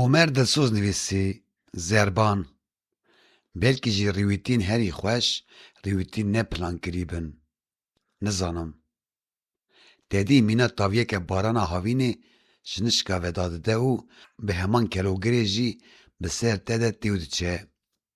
Omer Dilsoz nivîsî, Zerban, belkî jî rîwîtîn herî xweş rîwîtîn ne plankirî bin. Nizanim. Tedî mîna taviyeke barana havînê ji nişka ve dadide û bi heman kelogirê jî bi ser te de tê û diçe.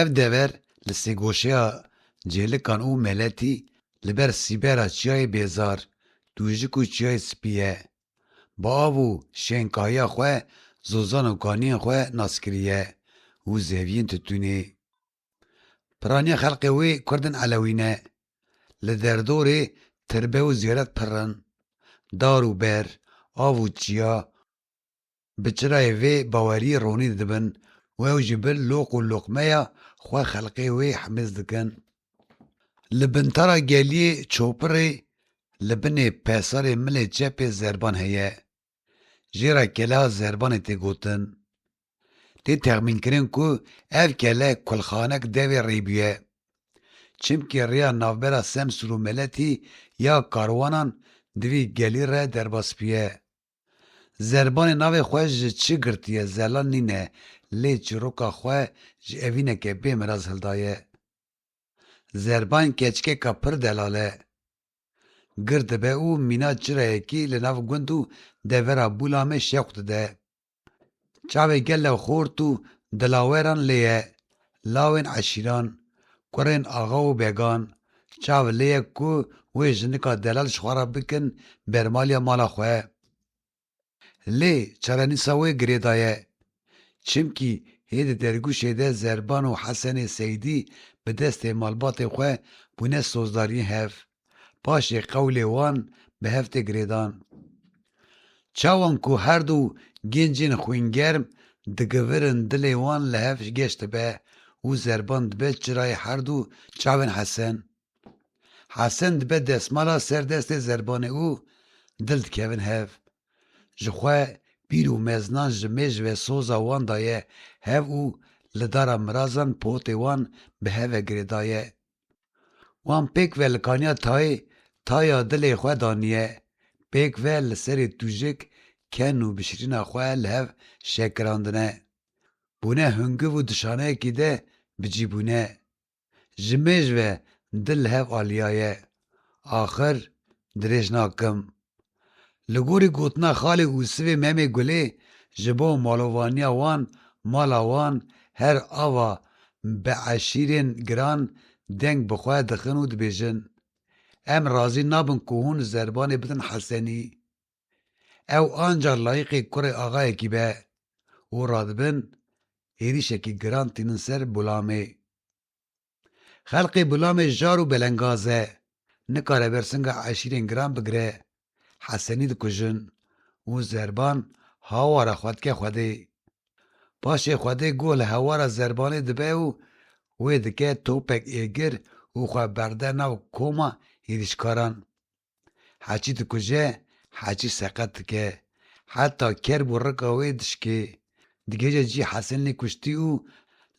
Ev dever li sêgoşeya Cêlikan û Meletî li ber sîbera Çiyayê Bêzar, Tûjik û Çiyayê Spî ye. Bi av û şênkahiya xwe zozan û kaniyên xwe nas kiriye û zeviyên tutûnê. Piraniya xelkê wê Kurdên Elewî ne. Li derdorê tirbe û zêret pirr in. Dar û ber, av û çiya Bi çirayê vê baweriyê ronîn dibin û ew ji bin loq û loqmeya xwe xelqê wê himiz dikin. Li Bintara Geliyê Çopirê li binê pesarê milê çepê zerban heye. Jê re kela zerbanê tê gotin. Tê texmînkirin ku ev kele kulxanek devê rê bûye. Çimkî rêya navbera Semsûr û Meletî ya karwanan di vî gelî re derbas bûye. Zerbanê navê xwe ji çi girtiye zelan nîne lê çîroka xwe ji evîneke bê miraz hildaye. Zerban keçikeka pir delal e. Gir dibe û mîna çirayekî li nav gund û devera Bûlamê şewq dide. Çavê gelo xort û dilaweran lê ye, lawên eşîran, kurên axa û began, çav lê ye ku wê jinika delal ji xwe re bikin bermaliya mala xwe. Lê çarenîsa wê girêda ye. Çimkî hê di dergûşê de Zerban û Hesenê Seydî bi destê malbatê xwe bûne sozdariyên hev. Paşê qewlê wan bi hev tê girêdan. Çawan ku her du gêncên xwîngerm digivirin dilê wan li hev geş dibe û zerban dibe çirayê her du çavên Hesen. Hesen dibe desmala ser destê zerbanê û dil dikevin hev. Ji xwe pîr û meznan ji mêj ve soza wan daye hev û li dara mirazan potê wan bi hev ve girêdaye. Wan pêk ve li kaniya tayê taya dilê xwe daniye, pêk ve li serê tûjik ken û bişirîna xwe li hev şekirandine. Bûne hungiv û dişaneyekî de bi cî bûne. Ji mêj ve dil li hev aliyaye. Axir dirêj nakim. Li gorî gotina Xalê Usivê Memê Gulê ji bo malovaniya wan, mala wan her ava bi eşîrên giran deng bi xwe dixin û dibêjin, Em razî nabin ku hûn zerbanê bidin Hesenî. Ew ancar layiqê kurê axayekî be û radibin êrîşekî giran tînin ser Bulamê. Xelqê Bulamê jar û belengaz e. Nikare bersinga eşîrên giran bigire. Hesenî dikujin û Zerban hawara xwe dike Xwedê. Paşê Xwedê guh li hewara Zerbanê dibe û wê dike topek êgir û xwe berde nav koma hêrişkaran. Haçî dikuje, Haçî seqet dike. Heta kerb û rika wê dişikê. Digihêje cî Hesenlê kuştî û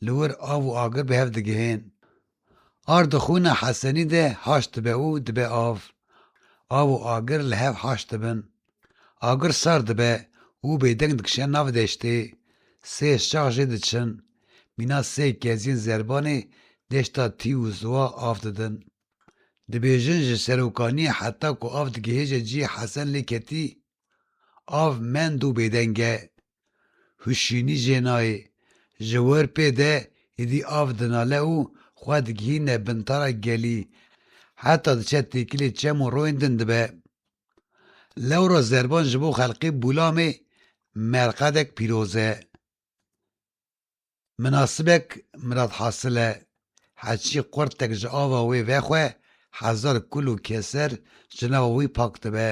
li wir av û agir bi hev digihên. Ar di xûna Hesenî de haş dibe û dibe av. Av û agir li hev haş dibin. Agir sar dibe û bêdeng dikişe nav deştê. Sê şax jê diçin. Mîna sê keziyên zerbanê deşta Tî û Ziwa av didin. Dibêjin ji serokaniyê heta ku av digihêje cihê Hesen lê ketî, av mend û bêdeng e. Huşînî jê nayê. Ji wir pê de êdî av dinale û xwe digihîne bintara gelî. Heta diçe têkilê çem û royên din dibe. Lewra zerban ji bo xelkê Bûlamê merqedek pîroz e. Minasibek Mirad Hasil e, heçî qurtek ji ava wê vexwe hezar kul û keser ji nava wî pak dibe.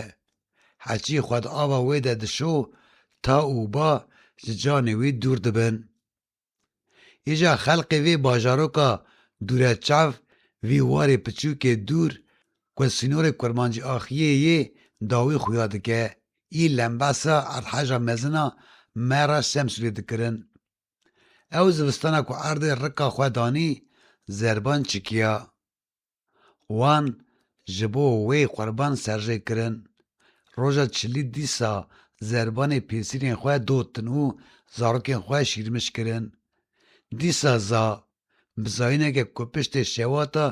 Heçî xwe di ava wê de dişo ta û ba ji canê wî dûr dibin. Îja xelkê vê bajaroka Dûreçav vî warê piçûkê dûr ku sînorê Kurmancî Axiyê yê dawî xuya dike Î lembasa erdheja mezin a me re Semsûrê dikirin. Ew zivistana ku erdê rika xwe danî zerban çikiya. Wan ji bo wê qurban serjê kirin. Roja çilî dîsa zerbanê pêsîrên xwe dotin û zarokên xwe şîrmiş kirin. Dîsa za bi zayîneke ku piştê şewata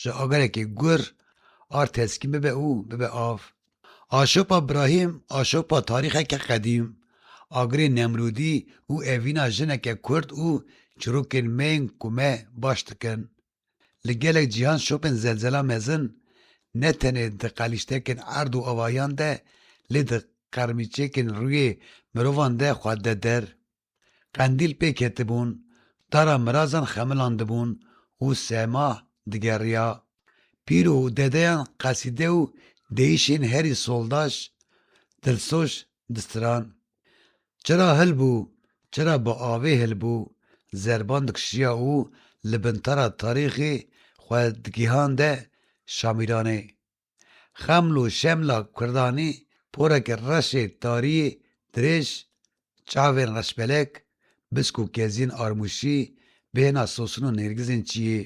ji agerekî gur ar teskîn bibe û bibe av. Aşopa Brahîm aşopa tarîxeke qedîm, agirê Nemrûdî û evîna jineke kurd û çirokên me yên ku me baş dikin. Li gelek cîhan şopên zelzela mezin ne tenê di qelîştekên erd û avahiyan de lê di qermîçekên rûyê mirovan de xwe dide der. Qendîl pê ketibûn, tara mirazan xemilandibûn û sema digeriya. Pîr û dedeyan qesîde û deyîşên herî soldaş, dilsoz distiran. Çira hil bû, çira bi avê hil bû, zerban dikişiya û li bin tara tarîxê xwe digihande Şamîranê. Xeml û Şemla Kurdanî poreke reşê tariyê dirêj, çavên reşbelek, bisk û keziyên armûşî, bêhna sosin û nêrgizên çiyê.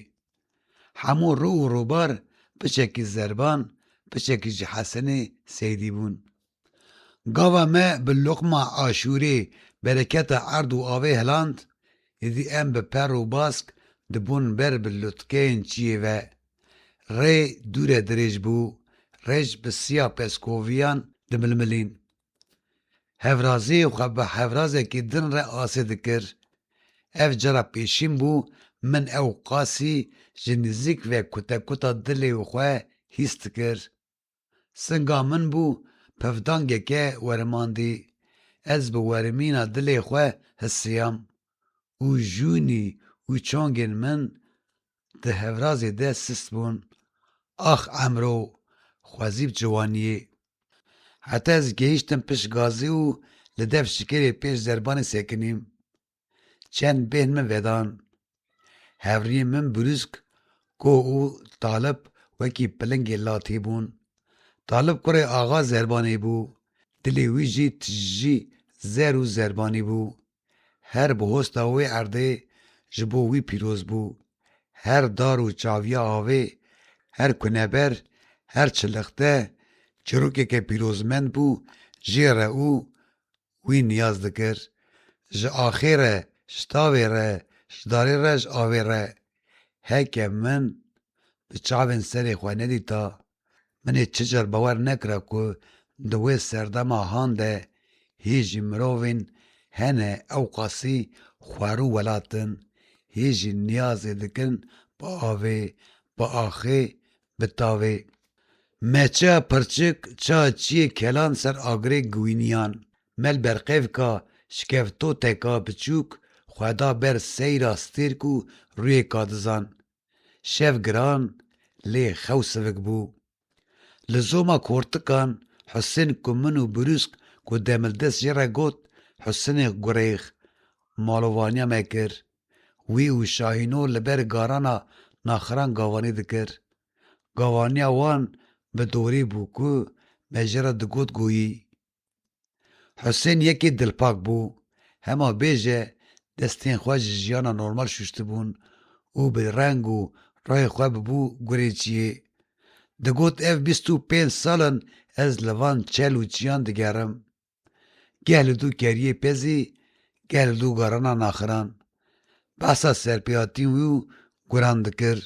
Hemû rû û rûbar piçekî Zerban, piçekî jî Hesenê Seydî bûn. Gava me bi loqma aşûrê bereketa erd û avê hiland, êdî em bi per û bask dibûn ber bi lutkeyên çiyê ve. Rê dûre dirêj bû, rêj bi siya peskoviyan dimilmilîn. Hevrazê xwe bi hevrazekî din re asê dikir. Ev cara pêşîn bû min ew qasî ji nizîk ve kutekuta dilê xwe hîs dikir. Singa min bû pevdangeke werimandî, ez bi werimîna dilê xwe hisiyam û jûnî û çongên min di hevrazê de sist bûn. Ax emro xwezî bi ciwaniyê. Heta ez gehîştim pişt gazî û li dev şikêrê pêş zerbanê sekinîm. Çend bên min vedan. Hevriyên min brûsk, koh û talib wekî pilingê latî bûn. Talib kurê axa zerbanê bû, dilê wî jî tijî zer û zerbanî bû. Her bihosta wê erdê ji bo wî pîroz bû. Her dar û çaviya avê, her kuneber, her çilixte çirokeke pîrozmend bû jê re û Wî niyaz dikir, Ji axê re, ji tavê re, ji darê re, ji avê re. Heke min bi çavên serê xwe nedîta, min ê çi car bawer nekira ku di wê serdema han de hî jî mirovên hene ewqasî xwar û welat in, hî jî niyazê dikin bi avê, bi axê, Bi tavê Me çiya pirçik, çiya çiyê kelan ser agirê giwîniyan. Me li berqevika şkeftoteka biçûk xwe da ber seyra stêrk û rûyê kadizan. Şev giran lê xew sivik bû. Li zoma kortikan Husên ku min û Brûsk ku demildest jê re got Husinê Gurêx malovaniya me kir. Wî û Şahîno li ber garana naxiran gavanî dikir. Gavaniya wan bi dorî bû ku me ji re digot goyî. Husên yekê dilpak bû, hema bêje destên xwe ji jiyana normal şûştibûn û bi reng û rayê xwe bûbû gurê çiyê. Digot ev bîst û pênc sal in ez li van çel û çiyan digerim. Geh li dû keriyê pezî, geh li dû garana naxiran. Behsa serpêhatiyên wî û guran dikir.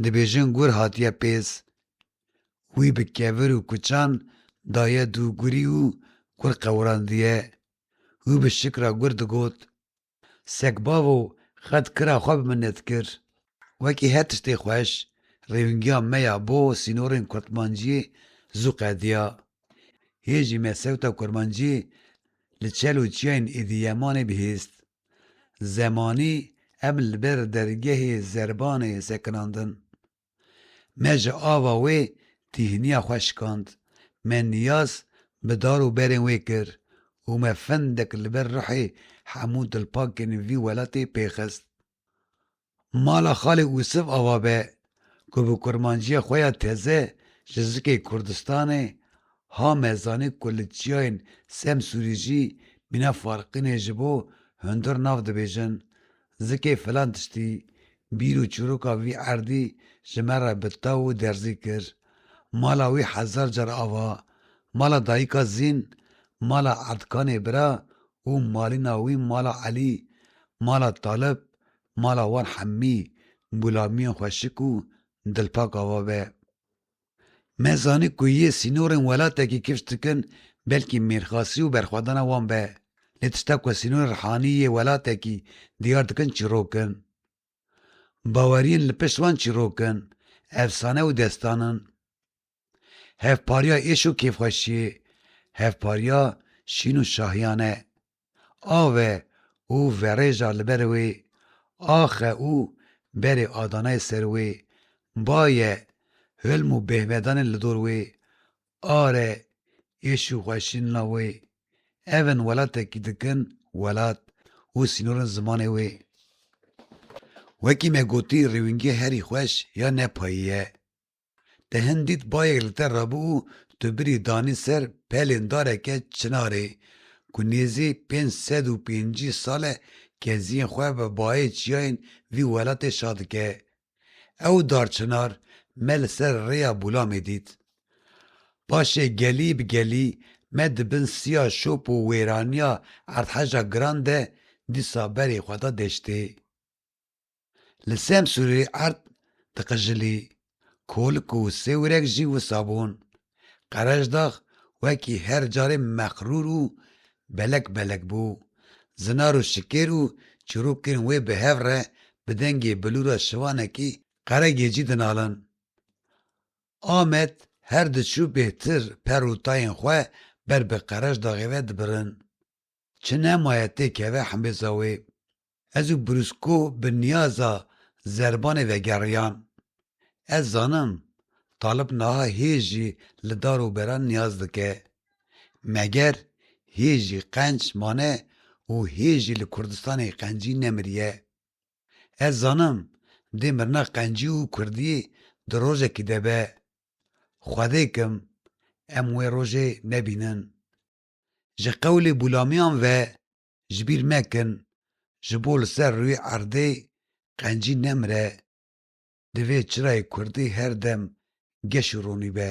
Dibêjin gur hatiye pêz. Wî bi kevir û kuçan daye dû gurî û gur qewrandiye. Wî bi şikra gur digot. Sekbavo qet kira xwe bi min nedikir. Wekî her tiştê xweş, rêwingiya me ya bo sînorên kurtmanciyê zû qediya. Hê jî me sewta kurmanciyê li çel û çiyayên Êdîyemanê bihîst. Zemanî em li ber dergehê zerbanê sekinandin. Me ji ava wê tîhiniya xwe şikand, me niyaz bi dar û berên wê kir û me fendek li ber ruhê hemû dilpakên vî welatê pê xist. Mala xalê Usif ava be ku bi kurmanciya xwe ya teze ji zikê Kurdistanê ha me zanî ku li çiyayên Semsûrî jî mîna farqînê ji bo hundir nav dibêjin, Zikê filan tiştî, bîr û çîroka vî erdî ji me re bi taw û derzî kir. Mala wî hezar car ava, mala dayika Zîn, mala Erdkanê bira û malîna wî mala Elî, mala Talib, mala wan hemî gulamiyan xweşik û dilpak ava be. Me zanî ku yê sînorên welatekî kifş dikin belkî mêrxasî û berxwedana wan be. Lê tişta ku sînorên rihanî yê welatekî diyar dikin çîrok in. Baweriyên li pişt wan çîrok in, efsane û destan in. Hevpariya êş û kêfxweşiyê, hevpariya şîn û şahiyane. Ave û verêja li ber wê, axe û berê adanayê ser wê, baye, hilm û bêhmedanên li dor wê, are, êş û xweşînina wê, ev in welatekî dikin welat û sînorên zimanê wê. Wekî me gotî rêwîngê herî xweş ya ne payî ye. Te hin dît bayek li te rabû û tu birî danî ser pelên dareke çinarê ku nêzî pênc sed û pêncî sal e keziyên xwe bi bayê çiyayên vî welatê şa dike. Ew darçinar me li ser rêya Bûlamê dît. Paşê gelî bi gelî me di bin siya şop û wêraniya erdheja giran de dîsa berê xwe da deştê. Li Semsûrê erd diqijilî, kolik û sêwirek jî wisa bûn. Qereşdax wekî her carê mexrûr û belek belek bû. Zinar û şikêr û çirokên wê bi hev re bi dengê bilûra şivanekî Qeregecî dinalin. Amed her diçû bêhtir per û tayên xwe ber bi Qereşdaxê ve dibirin. Çi nemaye têkeve himêza wê. Ez û Brusco bi niyaza zerbanê vegeriyan. Ez zanim Talib naha hê jî li dar û beran niyaz dike. Meger hê jî qenc mane û hê jî li Kurdistanê qencî nemiriye. Ez zanim dê mirina qencî û kurdiyê di rojekî de be. Xwedê kim em wê rojê nebînin. Ji qewlê bûlamiyan ve ji bîr nekin, ji bo li ser rûyê erdê qencî nemire, divê çirayê kurdî her dem geş û ronî be.